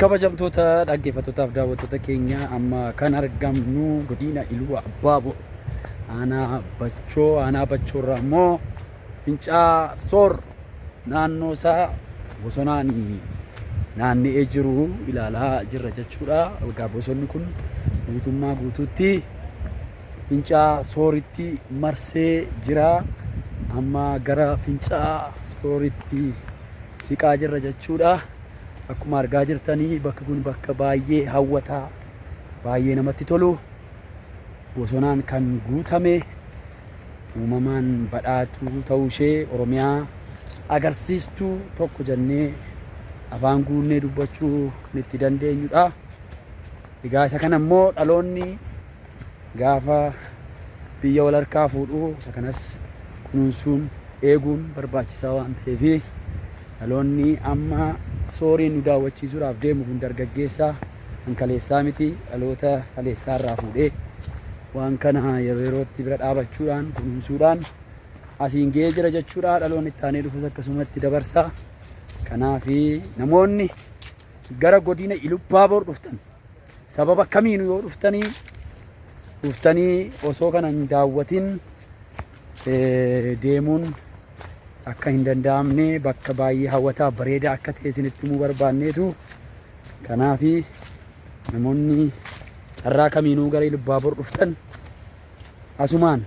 kabajamtoota dhaggeeffattootaaf daawwattoota keenya amma kan argamnu godina iluu abbaabo aanaa bachoo aanaa bachoo irraa immoo fincaa soor naannoo isaa bosonaan naanna'ee jiru ilaalaa jirra jechuudha. Egaa bosonni kun guutummaa guutuutti fincaa sooritti marsee jira. Amma gara fincaa sooritti siqaa jirra jechuudha. Akkuma argaa jirtanii bakki kun bakka baay'ee hawwataa baay'ee namatti tolu. Bosonaan kan guutame uumamaan badhaatuu ta'uu ishee Oromiyaa agarsiistuu tokko jennee afaan guunnee dubbachuu itti dandeenyudha. Egaa isa kana immoo dhaloonni gaafa biyya wal harkaa fuudhu isa kanas kunuunsuun eeguun barbaachisaa waan ta'eef dhaloonni amma sooriin nu daawwachiisuudhaaf deemu kun dargaggeessaa kan kaleessaa miti dhaloota kaleessaa irraa fuudhee waan kana yeroo yerootti bira dhaabachuudhaan kunuunsuudhaan asiin ga'ee jira jechuudha dhaloonni itti aanee dhufus akkasumatti dabarsa kanaaf namoonni gara godina Ilubbaabor dhuftan Sababa kamiinu yoo dhuftanii dhuftanii osoo kana hin daawwatin deemuun akka hin danda'amne bakka baay'ee hawwataa bareedaa akka ta'e isinitti himuu barbaanneetu kanaaf namoonni carraa kamiinuu gara Ilubbaabor dhuftan asumaan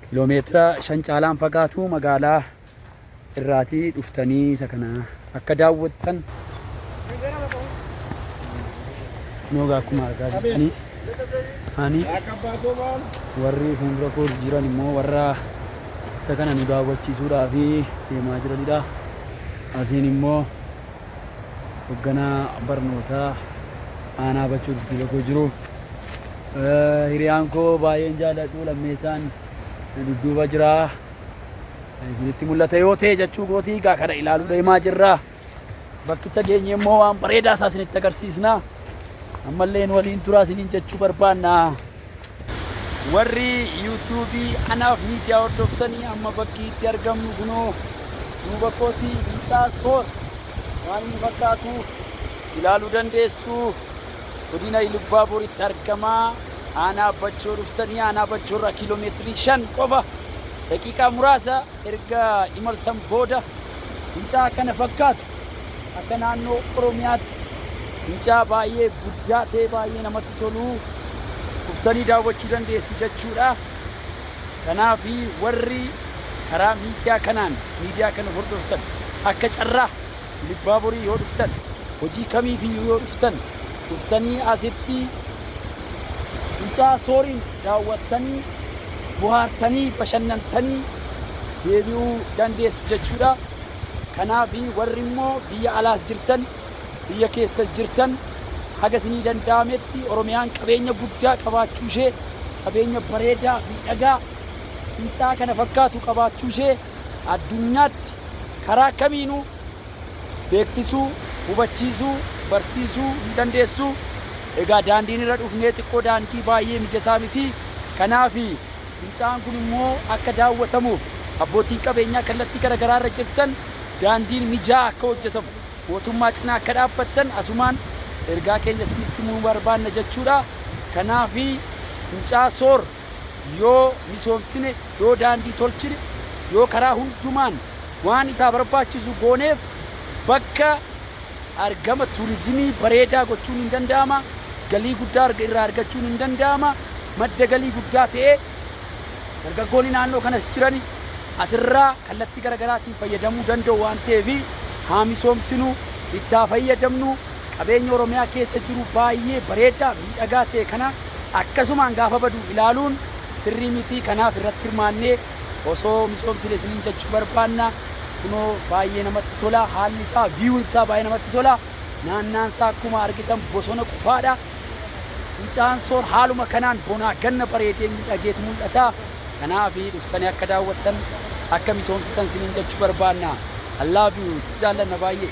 kiloomeetira shan caalaan fagaatu magaalaa irraati dhuftanii isa kana akka daawwattan nooga akkuma argaa jirtanii ani warri fuuldura koo jiran immoo warra isa kana nu daawwachiisuudhaa fi deemaa jiranidha asiin immoo hogganaa barnootaa aanaa bachuu dudduuba koo jiru hiriyaan koo baay'een jaalladhu lammeessaan dudduuba jira isinitti mul'ata yoo ta'e jechuu gootii egaa kana ilaaluu deemaa jirra. Bakkicha geenye immoo waan bareedaa isaa isinitti agarsiisna. Ammallee nu waliin turaa isiniin jechuu barbaanna. Warri yuutuubii anaaf miidiyaa hordoftanii amma bakki itti argamnu kunoo duuba kootii biitaa koos waan inni fakkaatu ilaaluu dandeessu. Godina Ilubbaaboritti argama. Aanaa Bachoo dhuftanii aanaa Bachoo irraa kiiloo meetirii 5 qofa daqiiqaa muraasa erga imaltan booda fincaa kana fakkaata. Akka naannoo Oromiyaatti fincaa baay'ee guddaa ta'e baay'ee namatti tolu dhuftanii daawwachuu dandeessu jechuudha. Kanaaf warri karaa miidiyaa kanaan miidiyaa kana hordoftan akka carraa Ilubbaaboriin yoo dhuftan, hojii kamiifiyyuu yoo dhuftan, dhuftanii asitti Finca'aa Sooriin daawwattanii, bohaartanii, bashannantanii deebi'uu dandeessu jechuu dha. Kanaaf warri immoo biyya alaas jirtan, biyya keessas jirtan haga isinii danda'ametti Oromiyaan qabeenya guddaa qabaachuu ishee, qabeenya bareedaa, miidhagaa, finca'aa kana fakkaatu qabaachuu ishee, addunyaatti karaa kamiinuu beeksisuu, hubachiisuu, barsiisuu hin dandeessu. Egaa daandiin irra dhufnee xiqqoo daandii baay'ee mijataa miti. Kanaaf fincaa'aan kun immoo akka daawwatamuuf abbootiin qabeenyaa kallattii gara garaa irra jirtan daandiin mijaa'aa akka hojjetamu mootummaa cinaa akka dhaabbattan asumaan ergaa keenya isinitti himuu barbaanna jechuudha. Kanaaf fincaa'aa soor. Yoo misoomsine, yoo daandii tolchine, yoo karaa hundumaan waan isaa barbaachisu gooneef bakka argama tuurizimii bareedaa gochuun in danda'ama, galii guddaa irraa argachuun in danda'ama, madda galii guddaa ta'ee dargaggoonni naannoo kanas jiran asirraa kallattii gara garaatiin fayyadamuu danda'u waan ta'eef haa misoomsinu, itti haa fayyadamnu, qabeenya Oromiyaa keessa jiru baay'ee bareedaa, miidhagaa ta'e kana. akkasumaan gaafa badu ilaaluun sirrii miti kanaaf irratti hirmaannee osoo misoomsine isiniin jechuu barbaanna kunoo baay'ee namatti tola haalli isaa viewn isaa baay'ee namatti tola naannaan isaa akkuma argitan bosona qufaadha fincaan soor haaluma kanaan bonaa ganna bareedee miidhageetu mul'ata kanaaf dhuftanii akka daawwattan akka misoomsitan isiniin jechuu barbaanna I love you isin jaallanna baay'ee.